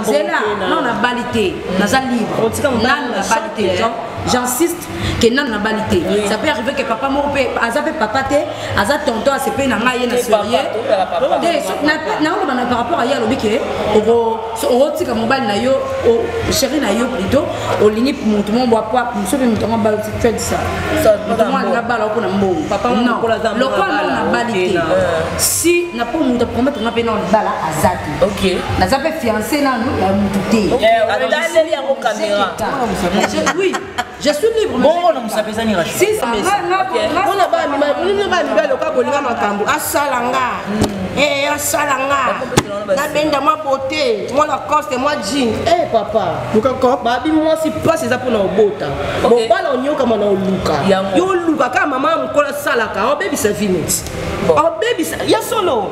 zela nano nabali te naza libre nano nabali te j'insiste ke nano nabali te ça peut arriver ke papa moko mpe aza mpe papa te aza tonton asepe na ngai ye na sorie naoloba na par rapport aye alobi ke okotika mobali na yo chéri na yo plutôt olingi motu moko bwapwa mosu mpe motu yango abala tedisa motu moko alinga bala oko na mbongo lokola nano nabali te si na mpo motu aprometre nga mpe nao libala aza te Okay. naza mpe fiance nano ya motu te otaleli yango kamera oui je suis libre bongo na mosapi ezani rashpona bamibali oka kolinga makambo asala nga hmm. eh, asala nga nabenda mwa bote mwa lacoste mwa jean e eh, papa babi mwasi mpasi eza mpona obota mobala onyokama na oluka yo oluka kaka mama ya mokolo asalaka obebisa vineti obebisa ya solo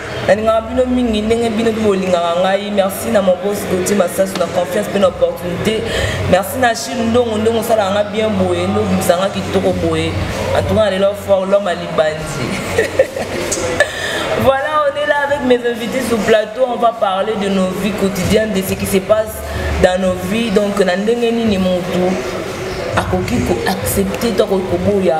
nalingaka bino mingi ndenge bino mpe bolingaka ngai merci na mon bos gautier masasu na confiance mpe na opportunité merci na chine ndongo ndongo osalaka nga bien boye nde obimisa nga kitoko boye antuka na lelo fort lome alibandi voilà on est là avec mes invités sur plateau on va parler de nos vies quotidiennes de ce qui se passe dans nos vies donc na ndenge nini motu akoki koaccepte to akoki koboya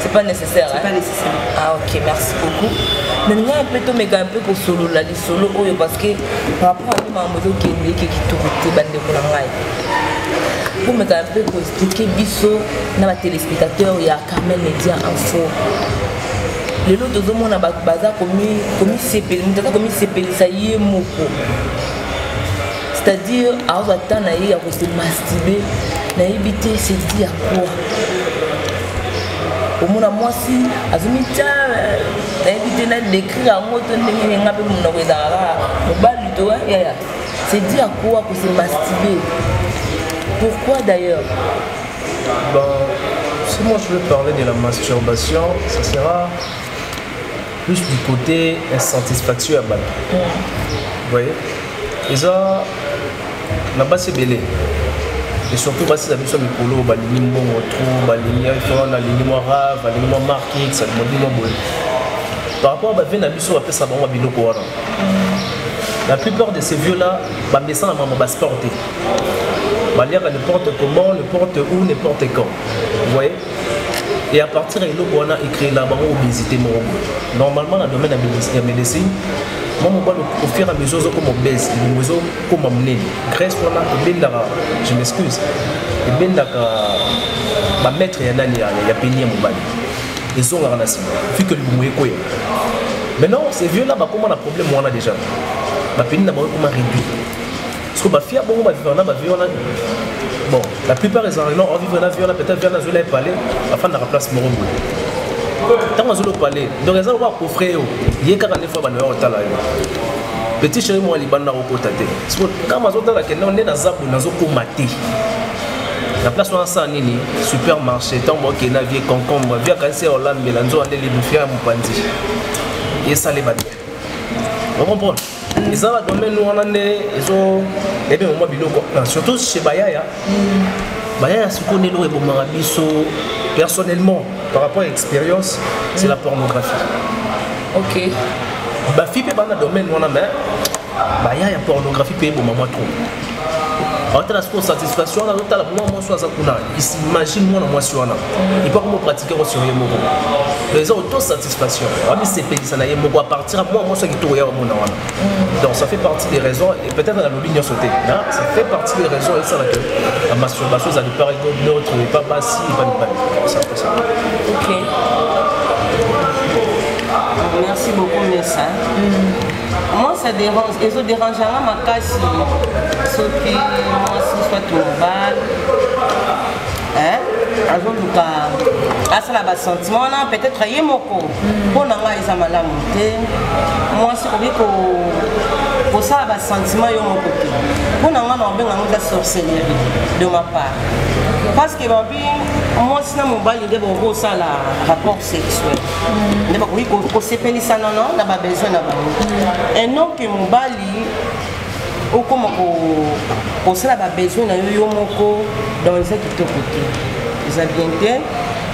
C'est pas nécessaire. C'est hein? pas nécessaire. Ah ok, merci beaucoup. nalinga mpe tomeka mpe kosolola lisolo oyo parceke par rapport ani makambo ezokende eke kitoko te bandeko na ngai tomeka mpe koexplike biso na batelespectateur ya carmel media info lelo tozomona bato baza komisepelisa ye moko c'est-à-dire azwa temps na ye ya kose mastibe nayebi te sedi ya quoi omona mwasi azomitya eh, nayebi te na décrire yango to ndenge nini nga mpe monoko ezalaka ah, mobali to eh, yaya sedi ya quoi kose mastibe pourquoi d'ailleurs bon, si moi je veux parler de la masturbation ça sera plus du côté insatisfaction ya bato mm. voyez eza na basi ebele et surtout basi na biso mikolo balingi mbongo tro balingi wana alingi mwa rave alingi mwa markix alingi mwa boye par rapport ya bavie na biso bapesa bango biloko wana la plupart de ces vieux là bamesana mama basport te baliaka n'importe comment n'importe où n'importe quand voyez et à partir ya eloko wana ecréela bango obésité moko normalement na domaine ya médecine mwa mobali au fur et à mesure ozokoma obese elimo ezokoma monene grèce wana ebendaka je m'excuse ebendaka bamaître ya nani ya peni ya mobali ezongaka na nsima fike libumu ekweya maintenant ces vieux là bakoma na problème wana déjà bapeni na bango ekoma réduit Parce que ma fille a beaucoup ma vie, on a ma vie, on a. Bon, la plupart des gens, non, on vit la vie, on a peut-être bien la zone palais, afin de la place Morombo. Tant que je palais, donc les gens vont coffrer, il y a 40 fois, on va là. Petit chéri, moi, il va nous recoter. Parce que quand je suis là, on est dans la zone, on a recoté. na place wana asala nini supermarché ntango bakei na vie concombre vie akanisi ya olambela nzoka nde libufia ya mopanzi esale bato okomprendre eza ba domaine wana nde ezo ebe mwa biloko ah, surtout chez bayaya bayaya sikoyo nde eloko ebomaka biso personnellement par rapport à expérience c'est la pornographie ok bafi mpe bana domaine wana mais baya ya pornographie mpe eboma mwa trop aotala ah, sikoyo satisfaction wana azotala mwa mwasi oyo aza kuna imagine mwana mwasi wana epo akoma opratike yango sur ye moko eza auto satisfaction amisepelisa na ye moko apartir ya mwa mwasi ya kitoko ya bamona wana donc ça fait partie des raisons et peut-être nalobi nyonso te ça fait partie des raisons esala que la masturbation ezali par neutre epa basi epa mibali ok merci beaucoup mesa mm. Moi ça dérange, ezo dérange nga makasi soki mwasi soit mobali hein azoluka asala basentiment wana peut-être ye moko mpo hmm. na ngai eza malamu te mwasi okoki kosala basentiment yo moko te mpo na ngai na obenga ngo eza sorcellerie de ma part parce que babi mwasi na mobali nde bokosala rapport sexuel nde bakoki kosepelisa nono na babesoin na bango et non ke mobali okoma kosala babesoin na yo yo moko donc eza kitoko te eza bien te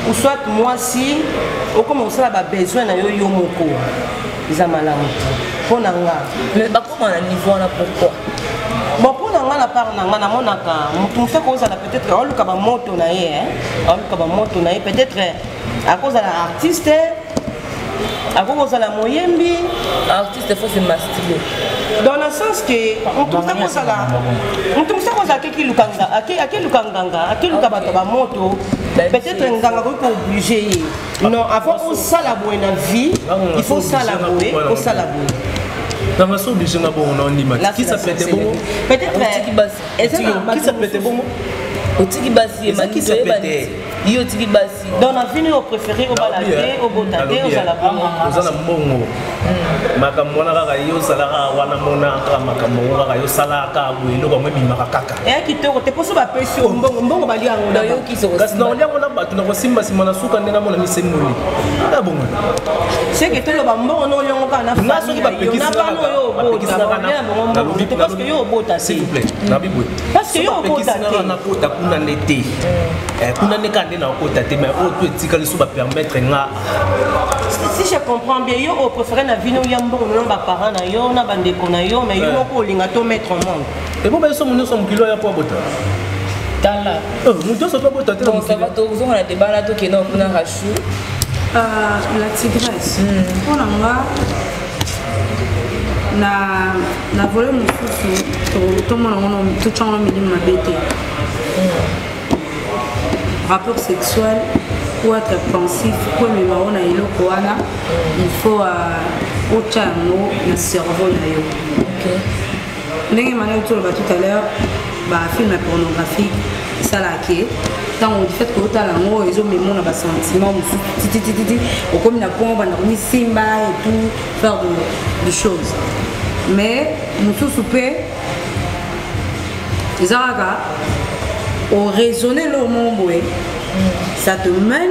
ou soit mwasi okoma kosala babesoin na yo yo moko eza malamu te mpo na nga mais bakoma na niveau wana pourquoi bon mpo na nga na part na nga namonaka motu mosuku ozala peut-être aoluka bamoto na ye aoluka bamoto na ye peut-être akozala artiste akoki kozala moyembi artiste fo se mastile dans le sens que moto mosa kozala moto mosa kozala akekiluka akeluka nganga akeluka bato ba moto peut-être nganga akoki kooblige ye non avant osala boye na vie il faut osala boye osala boye nanga so oblige nga bongo na ondima kisa pete bongo peut-être kisa pete bongo otiki basi ye manito oyebani yo otiki basi donc na vino oyo préféré obala te eh, obota te ozala eh, boza na mbongo hmm. makambo wana kaka yo osalaka wana monaka makambo yango kaka yo osalaka boye eloko yango ebimaka kaka eya eh, kitoko te mposo bapesi yo mbongo mbongo bali yango kasi na olia mona bato nakosimba nsima na suka nde namona misemboli ya bongo seke toloba mbongo na oliongo kaka na famille na bana oyo obota nalobi boye parce que yo okota te na kota kuna ne te eh, kuna ne ka nde na kota te mais oyo to etikali so ba permettre nga si je comprends bien yo o préférer na vino ya mbongo na ba parents na yo na ba ndeko na yo mais yo eh. moko olinga to mettre en monde et bon ba so munyo so mukilo ya po bota tala oh, moto nyonso mpe bota te na mokili tozonga na debala tokenda kuna rachu ah, la tigresse mpo hmm. na nga na na vole mosusu tomona ngono totya ngono milimo mabe te rapport sexuel ou être pensif po emema yo na eloko wana il faut euh, otya yango na cerveau na yo okay. ndenge manaki toloba tout à l'heure bafilme pornographique esalaka ke ntango du fait que otala yango ezomemo na basentiment mosusu titititi okomi na point obanda komisimba et tout faire de, de choses mais mosusu mpe eza kaka oraisonne eloo moko boye ça te mène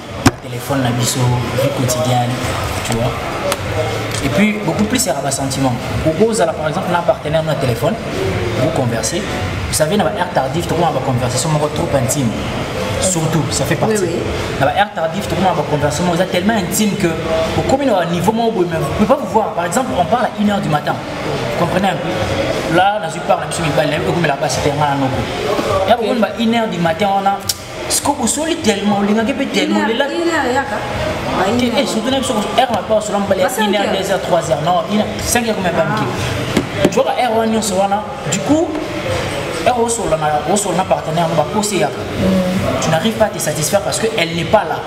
téléphone na biso vie quotidienne tu vois et puis beaucoup plus ya ba sentiment okozala par exemple na partenaire na téléphone vous conversez vous savez na ba air tardif tokoma ba conversation moko trop intime surtout ça fait partie oui, oui. na ba air tardif tokoma ba conversation moko eza tellement intime que okomi na niveau moko boye mais vous pouvez pas vous voir par exemple on parle à 1 heure du matin vous comprenez un peu là nazwi part na biso mibali nayebi okomela basi te ngai na noko ya bokomona ba 1 heure du matin wana sikoyo bosoli tellement olingaki mpe tellement olela eh, surtout na biso heure na mpe osola mobali ya 1 heure 2 heure 3 heure non 5 heure komema mike ozoka heure wana nyonso wana du coup heure osola na partenaire yango baposi eyaka mm. tu n'arrive pas à te satisfaire parce que elle n'est pas là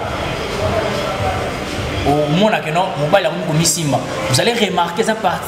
omonake non mobali akomi komisimba vous allez remarquer eza parti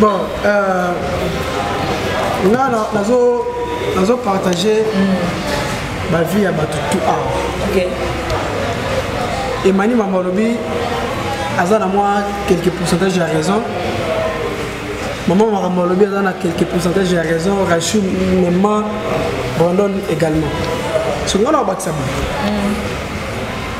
bon euh, nga nazo partage bavie ya bato tout awa emani mama olobi aza na mwa quelque pourcentage ya raison mama makambo alobi aza na quelque pourcentage ya raison rachu mema brandon également so nga na obakisa boye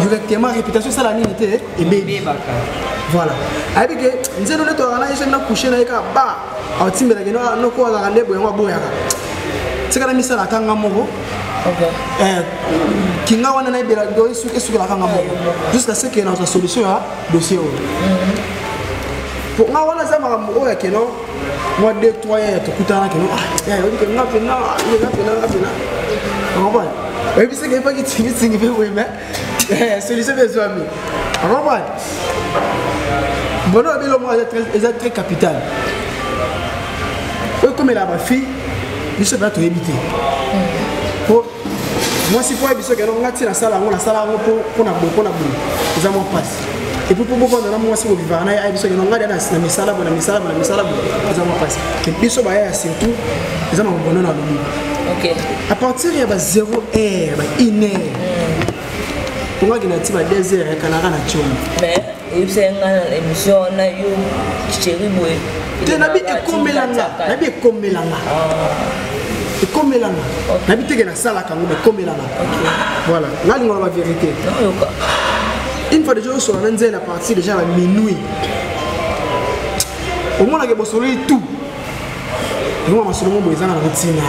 directement réputation esala nini te ebebaka voilà ayebi ke nzeno nde tozalaka na ese na couche na ye kaka ba aotimbelaka no ah, noko azalaka nde boyango aboyaka tika na misala atanga moko eh, kinga wana nayebela esukelaka nga moko jusqu'à ce que nazwa solution ya dossier oyo mpo mm-hmm. nga wana eza makambo oyo ya keno mwa de trois yaya tokutana keno ah, yaya oyebi ke nga mpena nga mpena nga mpena okomona oyebisaki epaki tingitingi mpe boye mais eh, solution mpe ezwami okomona bono oyebi elongo eza très capital oyo ekomela bafille biso mpenza toyebi te mwasi mpo ayebi soki yango ngai ti nasala yango nasala yango mpo na boye mpo na boye eza mwa mpasi epuis mpo bovanda na mwasi bovivaka na ye ayebi soki yango ngai na misala boye na misala boye na misala boye eza mwa mpasi biso baya ya surtout eza na mobono na lobi à partir ya ba 0 heure ba 1 heure ongaki na ti ba 2 heure ya kanaka na tioma oyebisaki nga na émission wana yo chéri boye te nabi ekomela nga nabi ekomela nga ah. ekomela nga nabi teke nasalaka yango ekomela nga voilà nga lingo na bavérité une fois déjà osola na nzela parti déjà na minuit omonaka bosololi tout yango masolo mo boye ezanga na kotina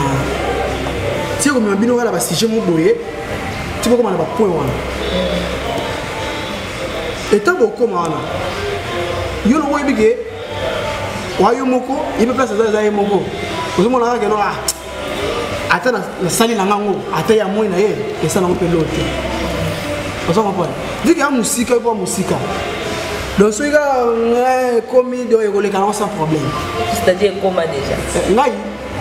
ti ekomema bino kala basujet mo boye ti bokoma na bapoint wana etant bokoma wana yo loko oyebi ke wa yo moko ye mpe place aza eza ye moko ozomona kaka keno ah, ata nasali na ngango ata ya moi na ye esala yango mpe loo te oza comprendre vu ke ya mosika yo mpo ya mosika donc soki kaka eh, ekomi donc ekoleka nango sans problème c'est-à-dire ekoma déjà eh, ngai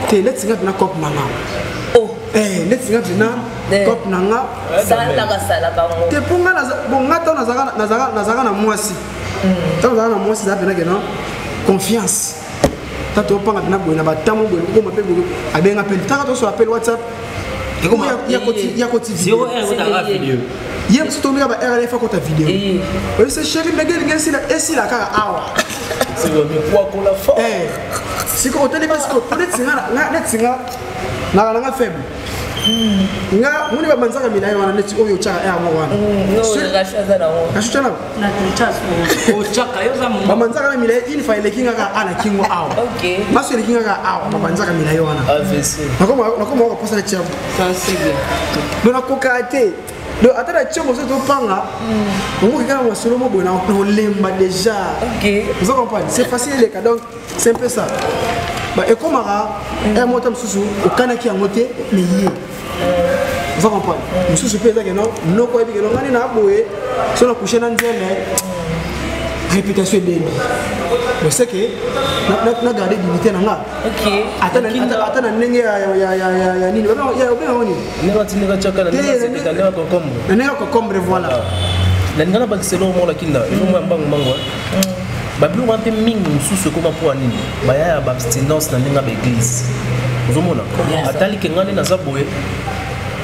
te neti ngai mpena cope na ngai oh. eh, neti ngai mpena Eh. top na nga te mpo nga bonga ntango nazalaka na mwasi hmm. ntango nazalaka na mwasi eza mpenake na confiance ta topanga mpena boye na batamo boye kokoma mpe boye abenga mpe ntaka tosola mpe whatsapp ya koti video ye mosu tondika ba rlf akota video oyese sheri ndenge elingi esila kaka awa sikoyo otali mpe sikoyo netinga naka nanga faible nga moni babanzaka milaye wana neti oyo otyaka ere moko wanababanzaka na milaye une fois eleki nga kaka a na kingo awa baso eleki nga kaka awa babanzaka milaye wana nakoma wakoposa na tiago do nakokaa te do ata na tiago ozo topanga omoki kaka masolo moboye na olemba déjà ozo comprendre c'est facile eleka donc c'est un peu ça ba ekomaka un mot mosusu okanaki yango te mais ye oza comprendre mosusu mpe ezaki no noko oyebi keno ngani na boye so na couche na nzele réputation ebembi mais c'est que na garde dignité na nga ata na ndenge ya nini obengango nini na ndenge ya kokombre voilà nalingana bakiselo omona kinda elongo ya mbangu mbangu babiloko wana mpe mingi mosusu ekoma mpo ya nini baya ya baabstinence na ndenge ya baeglise ozomona atali ke ngai nde naza boye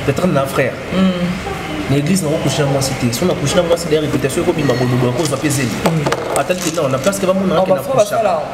peut-être na frère mm. na église nako couche na mwasi te so na couche na mwasi da réputation ekobima bododo akozwa mpe zeli mm. atali ke na place ke bamona ake na couche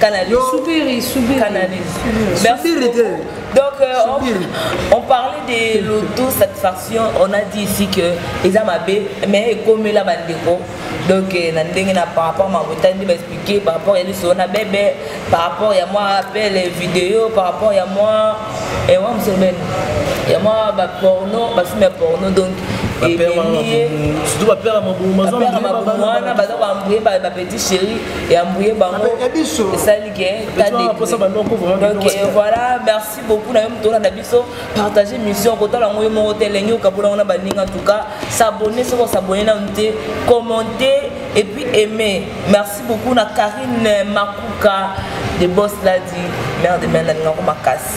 Canalise. Soubiri, Soubiri. Canalise. Soubiri te. Donc, euh, on, on, parlait de l'autosatisfaction. On a dit ici que les amabés, mais comme la bandeko, donc euh, na ndenge na par rapport ma botandi ba expliquer par rapport ya liso na bébé par rapport ya moi appel vidéo par rapport ya moi et moi monsieur Ben ya moi ba porno ba film porno donc surtout ba père ma bouma wana ba ba petit chéri ya mbuye bango esali ke donc euh, voilà merci beaucoup na yo moto olanda biso partage mission kotala yango yo moko te elengi okabola yango na baninga en tout cas s'abonne soki osabonne nanu te commenter et puis aimer merci beaucoup na karine makuka de boss ladi mère de mère nalingako makasi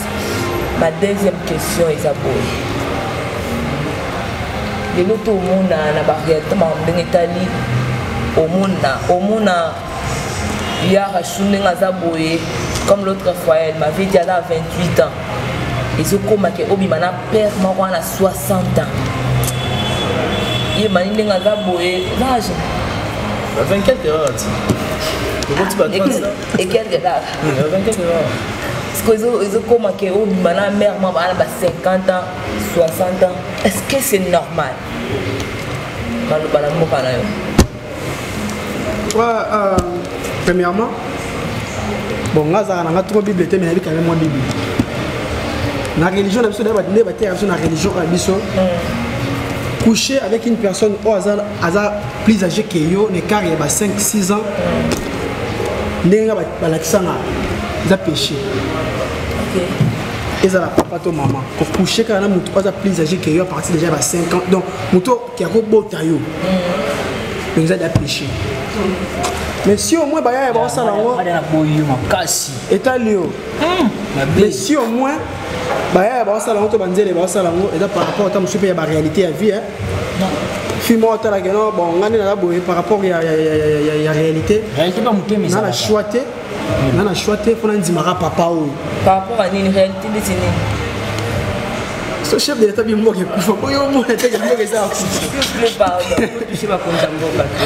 ma deuxième question eza boye lelo tomona na barealité makambo ndenge etali omona omona ya rachu ndenge aza boye comme l'autre fois elle m'avait dit ala 28 ans ezokoma ke obima na père moko wana 60 ans ye mani ndenge aza boye vage 24 heures Ekel de l'art. Parce que ils ont commencé au mana mère maman à 50 ans, 60 ans. Est-ce que c'est normal Manou bala mboka na yo. Ah ah premièrement bon nga azalaka nanga trop bible te mais nayebi kanga mwa bible na religion na biso nde bateyaka biso na religion na biso mm. coucher avec une personne oyo aza plus age que yo na écart ya ba 5 6 ans ndenge nga balakisa nga eza péché ezala papa to mama kokushe kaka na motu aza plus age que yo à partir déjà ya ba 5 ans donc motu oke akobota yo donc eza da péché mais si au moins baya ya bakosala yango etali yo mais si au moins baya ya bakosala yango to banzele bakosala yango eza par rapport ata mosusu mpe ya baréalité ya vie fille moko atalaki no bon ngai nde naza boye par rapport ya réalité na na choix te na na choix te mpo nandimaka papa oyo par rapport ya nini réalité ndeti nini so chef de l'état bimboka ekufa po yo omona te bimboka eza akufa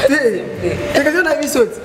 te te kasi na biso te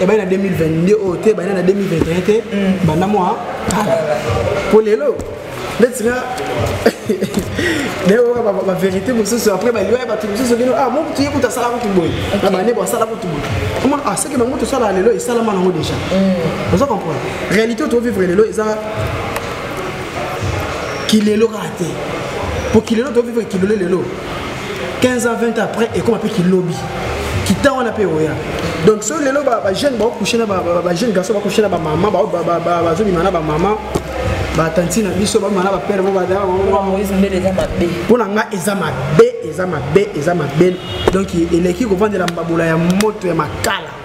ebandi na 2022 oyo te ebandi na 2021 te mm. banda mwa kala mpo lelo neti nga nayeoka baverité mosusu après baliwa ya bato mosusu kino ah mokutu ye kutu asala kutu boye na bande bo asala kutu boye omona ah seke bango tosala lelo esalama nango déjà mm. oza comprendre réalité oyo tovivre lelo eza kilelo kaka te mpo kilelo tovivre kilelo lelo 15 ans 20 ans après ekoma mpe kilobi kita wana mpe oya donc soki lelo bajeune baokushe na bajeune garçon bakushe na bamama bazobima na bamama batanti na biso bamama na bapere mpo na ngai eza mabe eza mabe eza mabe donc eleki kovandela mbabola ya moto ya makala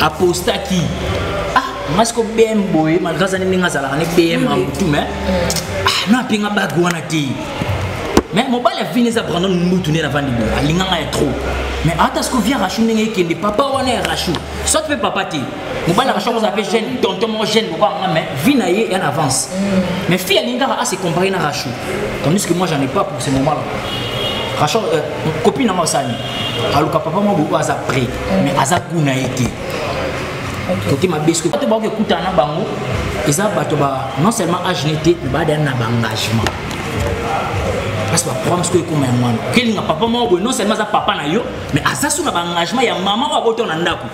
apostaki ah masi ko bm boye malgre azali ndenge azalaka ne bm ya motu me ah, na apenga bage wana te mais mobali ya vini eza brandon mbutu nde navandi boye alinga ngai ya trop mais ata siko via rachu ndenge ekende papa wana ya rachu soit mpe papa te mobali ya rachu akozala mpe jeune tonton moko jeune moko yanga mais vie na ye en avance mm. mais fille alingi kaka ase compare na rachu tandis que moi j'en ai pas pour ce moment là rachu euh, copine na moi osani aluka papa moko oyo aza près mais aza goût na ye te kote mabe soki bato bakoki ekutana na bango eza bato ba non seulement age ne te mais baadana na baengagement parce que baprogramme soki ekoma yango wana okelinga papa moko boye non seulement aza papa na yo mais aza so na baengagement ya mama oyo abotao na ndako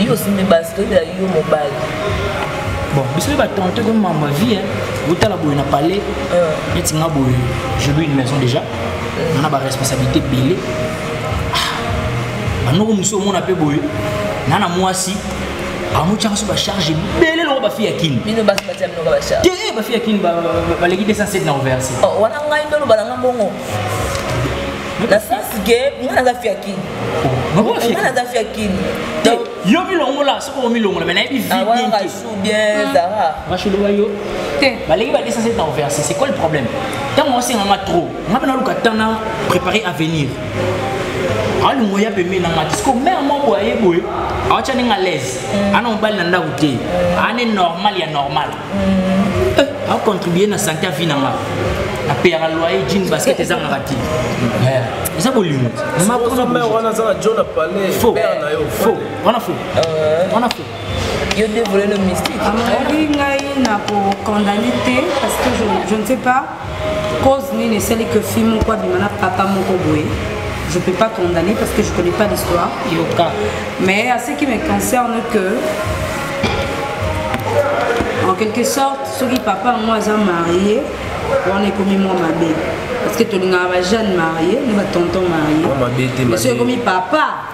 yo osimbi basi toyebela yo mobali bon biso mpe batente ko mamba vie otala boye na palais euh. neti nga boye je lui une maison déjà euh. na baresponsabilité ebele ah, banoko mosusu omona mpe boye na na mwasi amotyaka so bacharge ebele longo bafi ya kini te bafi ya kini baleki 207 na overse oh, wana ngai ndoloba na nga mbongo na sens ke nga naza fi ya kini nga naza fi ya kini yo milongola soki omilongola me nayebi videawaashulowa ah, yo te baleki ba 207 na overse c'est quoi le problème ntango osenganga trop nga mpe naluka ntan na préparer avenir alongo ya pembeni nanga te siko mare moko aye boye awatya ndenge alaise ana mobali na ndako te ana normal ya normal a contribuer na santé ya vie na nga apeyaka loyer jean basket ezangaka te eza bolingo wana fo wana fo yo nde volelo mystique amoki ngai na kokondane te parce que je ne sais pas Cause nini esali que film moko abima na papa moko boye je peux pas condamner parce que je connais pas l'histoire yoka mais à ce qui me concerne que en quelque sorte soki papa yango aza marie wana ekomi mwa mabe parce que tolingaka bajeune marie na batonton marie soki ekomi papa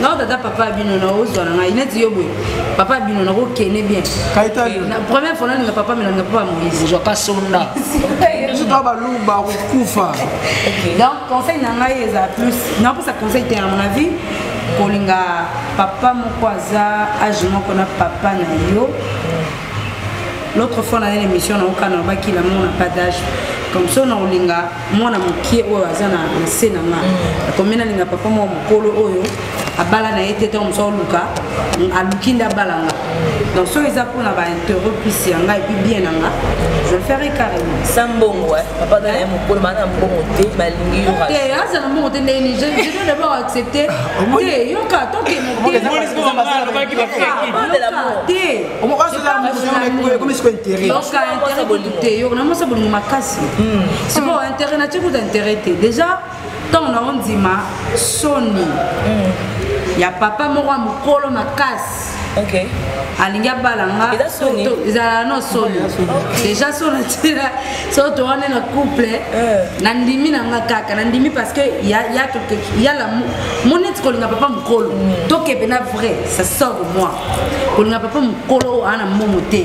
nao tata papa ya bino nao ozwa na ngai neti yo boye papa ya bino nako kene bien première fois nalinga papa me nalinga papa moise ozwa ka sonda biso toa baluba kokufa donc conseil na ngai eza plus naopesa conseil te ya mon avis kolinga papa moko aza age moko na papa na yo l'autre fois na ye l'émission naoka nalobaki lamour na pas d'age comme ça na olinga mwana mokie oyo aza na nse na nga mm. akomi nalinga papa mwa mokolo oyo abala na ye te ntango mosu aluka aluki nde abala nga donc soki eza mpona bainterêt plus ya ngai epuis bien na nga je ferai carrément sa mbongo papa aza na ye mokolo baa na mbongo te balingi yote aza na mbongo te ndeni je dois d'abord accepter ah, te yoka tokemoteyoka intérêt bolingo te yoka namosa bolingo makasi hmm. sikoyo intérêt na tikuta intérêt te déjà ntango na ondima soni hmm. ya papa moko ya mokolo makasi okay. alingi abala nga ezala no soni deja so natila so towane na couple eh. nandimi na nga kaka nandimi parce que yala moneti kolinga papa mokolo mm. tokebe na vrai ça sort de moi kolinga papa mokolo oyo ana momo te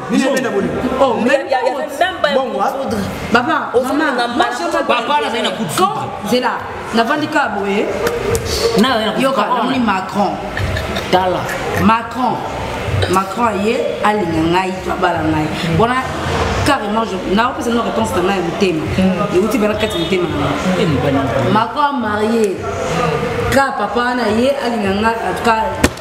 Oh, mais il y avait même pas bon, moi. Papa, oh, maman, moi je me Papa, là, c'est un coup de foudre. C'est là. N'a vendu qu'à boyer. Non, il y a Macron. Tala. Macron. Macron aye alinga ngai to abala ngai wana carrément naopesa no réponse na ngai ya motema mm. euti bana kati motema na ngai mm. Macron amarie ka papa wana ye alinga ngai en tout cas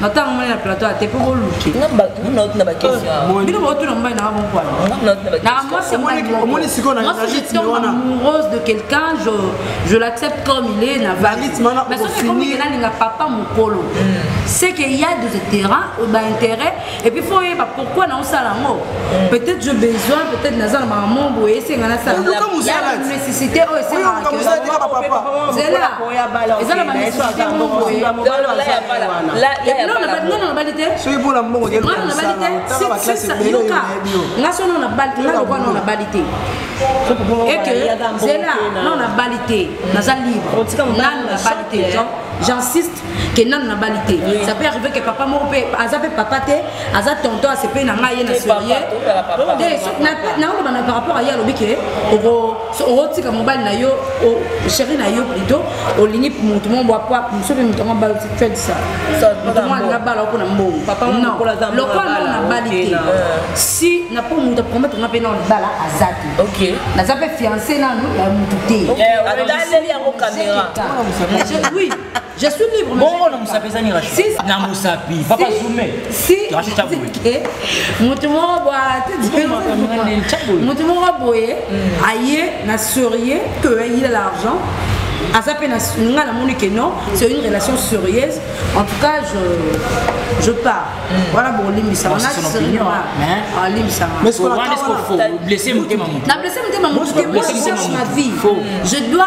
na ntango moni na plateau ate mpo boluke bino botuna mobali nanga bonkwanaomoni sikoyo amoureuse de quelqu'un je, je l'accepte comme il est na vaisonkomi nalinga papa mokolo hmm. c'est que ya des terrain baintérêt et puis fo oyeba pourquoi naosala yango hmm. peut-être je besoin peut-être naza na makambo boye esenga nasala nécessité oyo esengaa nga so nao nabali te nga lokwa nao nabali te eke zela nao nabali te naza libre nanu nabali te j'insiste que nanu nabali te ça peut arriver que papa moko mpe aza mpe papa te aza tonton asepeli na ngai ye na sorie nakoloba na par rapport aye alobi ke okotika mobali na yo chéri na yo plutôt olingi motu mo bwa pwa mosu mpe motu yango abala fed sa motumo alinga bala oko na mbongo lokola na nabali te si na mpo motu apromete nga mpe na bala aza te naza mpe fiance nanu ya motu te oui Je suis libre. Bongo na musapi ezani Rachel. Si, na musapi papa si, Zume. Si Rachel Chabwe. Eh, mutu moko bwa mutu moko boye mm. aye na serieux que il a l'argent aza mpe nga namoni que non c'est une relation sérieuse en tout cas je, je pars mm. wana bolimbisama nalimbisamablesse motema motu ma vie je dois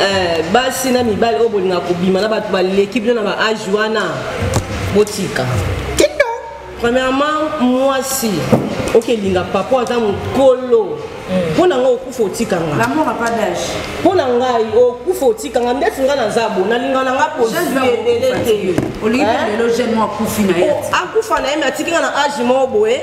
Eh, basi na mibali oyo bolinga kobima na bato baleki bino na ba age wana botika premièrement mwasi okelinga papa aza mokolo hmm. mpo na ngai okufa otikanga mpo na ngai okufa otikanga ndeti ngai naza bo nalinga na ngai poziebele te akufa na ye me atiki ngai na age moko boye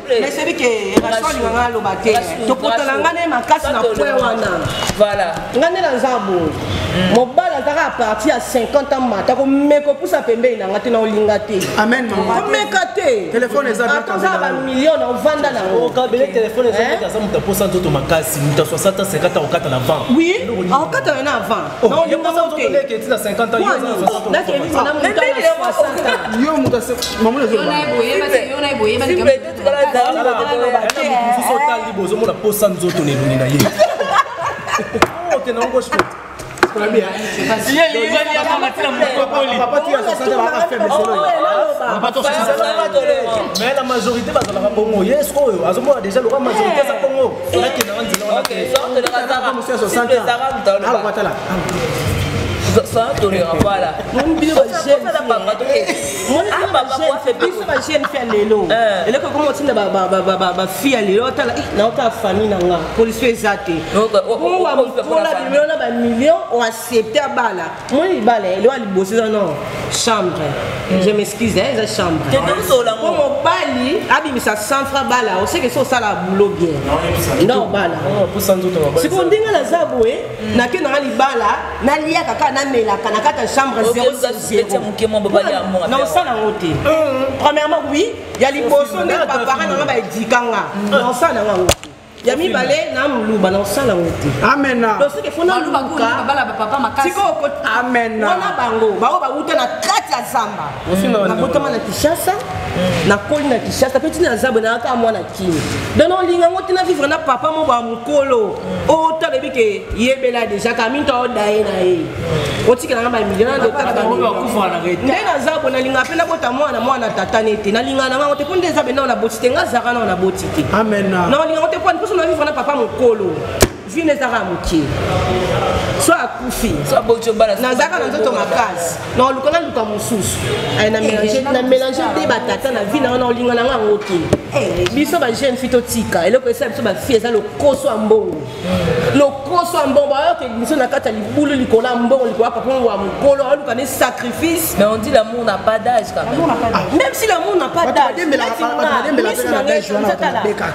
mais c'est que raso alinga nga aloba te topotana nga ne makasi na point wana voilà nga nde na nzambo mm. mobali azaka a partir ya 50 ans mata komeka opusa pembeni na nga te na olinga te amen komeka te akozala bamillion na ovanda na ngokabele telefone aza moto aposa nzoto makasi moto ya 60 ans 50 ans okata na vent oui akokatana na vent bozomona posa nzoto na elongi na ye mais la majorité bazalaka bongo ye sikoyo azomona deja lokola majorité aza bongo nakenda wana nzela wanaaatala toleka mpala osala banga tokebiso bajeune fi ya lelo eloko ekoma otinda bafi ya lelo otala naotala famille na nga polisi eza te owa mokola bimelo na bamillion oaccepte abala moi libala eloko ya liboso eza no chambre hmm. je m'excuse eh, eza chambre po mobali abimisa 100 franc bala oseke so osala boulot bien nda obala siko ndenge naza boye hmm. nake nanga libala naliaka kaka namelaka na kata chambre 0na osala yango te hmm. premièrement oui ya liboso nde bapara nanga baedika nga na osala nanga yango ya mibale na muluba na osala ngo te amena tosike fo nalukaamena bango baoyo bawuta na kati ya zamba nakotama na kinshasa mm. nakoli na kinshasa mpe ntina zabwe nayaka mwana kini don olinga ngo te na vivre na papa mo ba mokolo mm. ota lobi ke yebela deja kaminto aoda ye na ye mm. otikela nga bamilio nde na zabwe nalinga mpe nabota mwana mwana tata nete nalinga na ngango te mpo nde zabwe nao naboti te nga zaka nao naboti amen na olingango te kwani mposo na vivre na papa mokolo vie na ezaka moke so akufi nazalaka na nzoto makasi na oluka na luka mosusu na mélange te batata na vie na wana olinga na nga yango te biso ba jeune fi totika eloko esala biso bafille eza lokoso ya mbongo lokoso ya mbongo bayoka emission na kati ya libulu likolo ya mbongo likolo ya papa yango ya mokolo aluka ne sacrifice mais on dit l'amour n'a pas d'âge quand même ah, même si l'amour n'a pas d'âge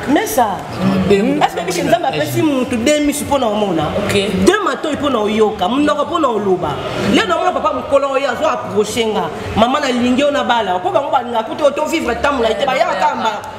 mais ça hmm. est-ce que biso nzambe apesi mutu de misu mpo na omona de matoi mpo na oyoka monoko mpo na oloba leo namona papa mokolo oyo azo approche nga mama nalingi oyo nabala mpo bango balingaka kutu otovivre ntango na ye te bayaka kaka mbala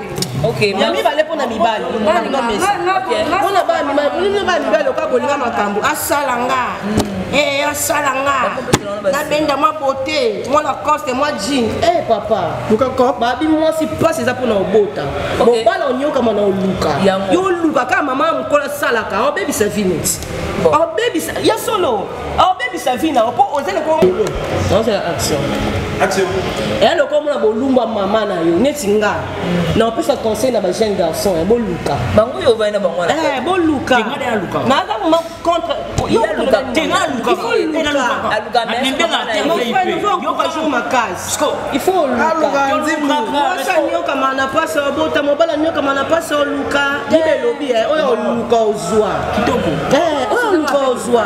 ya mibale mpo na mibali mpo na bana mibali oka kolinga makambo asala nga hmm. eh, asala nga nabenda mwa bote mwa lacoste mwa jean e eh, papa babi mwasi mpasi eza mpo na obota mobala onyokama na oluka yo oluka kaka mama ya mokolo asalaka obebisa vinit obebisa ya solo obebisa vi na yo mpo oza lokola molo ozala action action eya lokola mona bolumba mama na yo neti nga mm. na opesa conseil na bajeune garçon eh, boluka bango yo ovai na bango eh, boluka naza moma contre aluka makasi il faut olukaokama na pasi obota mobali anyokama na pasi oluka bibe elobi eh, oyo oluka ozwa eh, oyo oluka ozwa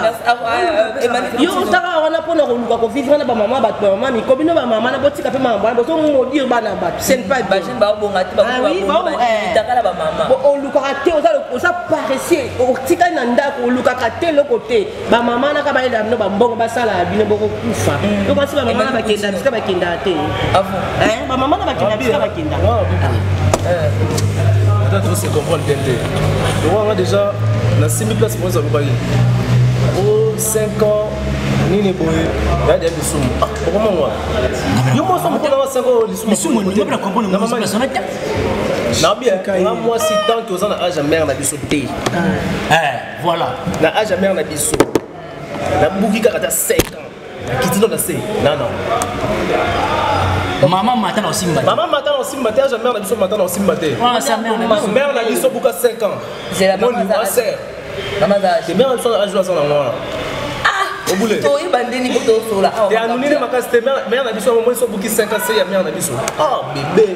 yo otaka wana mpona koluka kovivre na bamama bato bamama miko bino bamama na botika mpe mama bana bozomodire bana bato senpaolukaka te oza paresse otikali na ndako olukaka te eloko te bamama naka bayelaka bino bambongo basalaka bino bokokufa mm. donc basi bamama na bakenda bisika bakendaka te ah eh, bamama na bakenda bisika bakenda ata tose comprendre bien te lokoanga déjà nasimbi place mpo ezaloba ye o 5 ans nini boye yadi ya lisumu ah, okomangwa yo moso mokolo wa 5 ans lisumu na bien nga mwasi tanke oza na age ya mare na biso te ah. eh. Voilà. Na âge ya mère na biso. Na buki kaka ta 5 ans. Na kitino na se. Non non. Maman mata na osimba. Maman mata na osimba te, âge ya mère na biso mata na osimba te. Ah, sa mère na biso. Mère na biso buka 5 ans. C'est la maman. Mon sœur. Maman za. C'est mère na biso âge la sana ngwana. obule toyeba ndeni po tosola awa te anunine makasi te mare na biso yango moi sobuki 5 ans se ya mare na biso ah bebe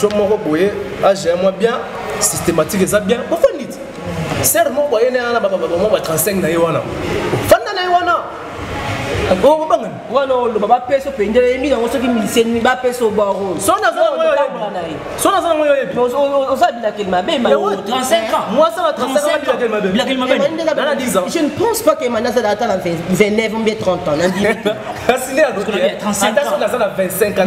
jo moko boye age ya mwa bien systématique eza bien bofandi ti ser moko ayene wana bababamwa ba 35 na ye wana fanda na ye wana obangani wana oloba bapesa opendela yembi yango soki misenimi bapesa obaro so naza nango yo yebi oza bilakeli mabe ma 35 ans moi ça va 35 ans bilakeli mabe bilakeli mabe na 10 ans je ne pense pas que mani azala ata na 29 ou bien 30 ans na ndimi kasi nde aza na 25 ans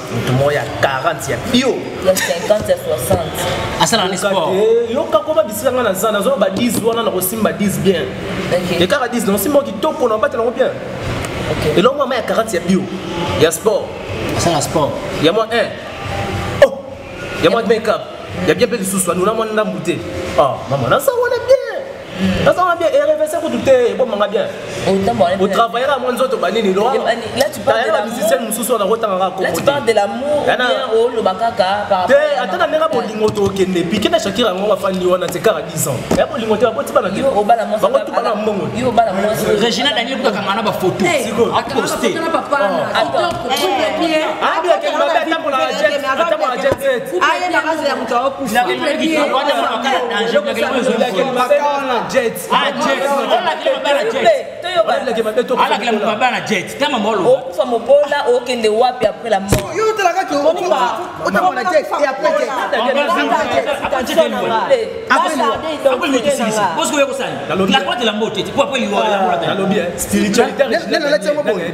moto moko ya 40 ya bio ya 50 ya 60 asala na sport eh, yoka koma bisika nga na za nazo ba 10 wana na kosimba 10 bien et kaka 10 na kosimba kitoko na batela ngo bien eloko mama ya 40 ya bio ya sport asala sport ya mwa 1 oh ya mwa make up ya bien mpe lisusu anuna mwa ndambu te ah mama naza wana bien nazanga bien erevese kutu te ebomanga bien otravaillaka mwa nzoto banini loayeba musicien mosusu wana kotangaka kote ata na ndenge bolingo tokende pike na shakira yango bafandi wana te kaka 10 ans ya bolingo te bakoti bana bango tu bana mbongo regina daniel kutakanga na bafoto poste okufa mobola okende wapi après la mortnalobieango boye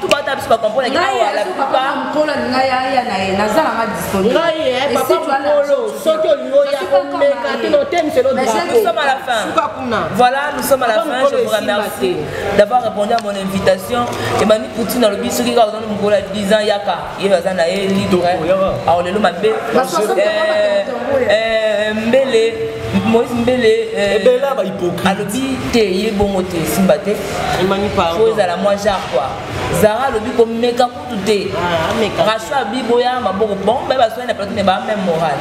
tubata biso bakompona soki olingi oya komeka te notemisolosukakunavoilà nous sommes à la fin je vous remercie d'avoir répondu à mon invitation emani poutine alobi soki kaka ozana mokolo ya 10 ans yaka ye aza na ye libre awo lelo mabe mbele moïse mbele ebela bahypocrite alobi te ye bongo te esimba te po ezala mwa jar kua zara alobi komeka kutu te raso abiboya maboko bango baye baswani na plateau me baa meme moral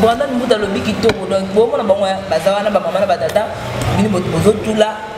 brandon mbuta alobi kitoko donc bomona bango baza wana bamama na batata bini bozotula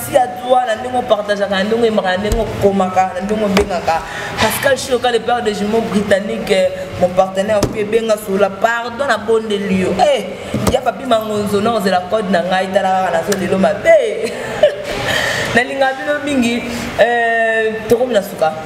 ti ya droit na ndenge opartageaka na ndenge oyembaka na ndenge okomaka na ndenge obengaka pascal shoka le père de jumeau britannique eh, mon partenaire opi ebenga sola pardon na bondeli yo e eh, ya papi mangonzo na ozela code na ngai tala kaka nazo lelo mabe nalinga bino mingi eh, tokomi na suka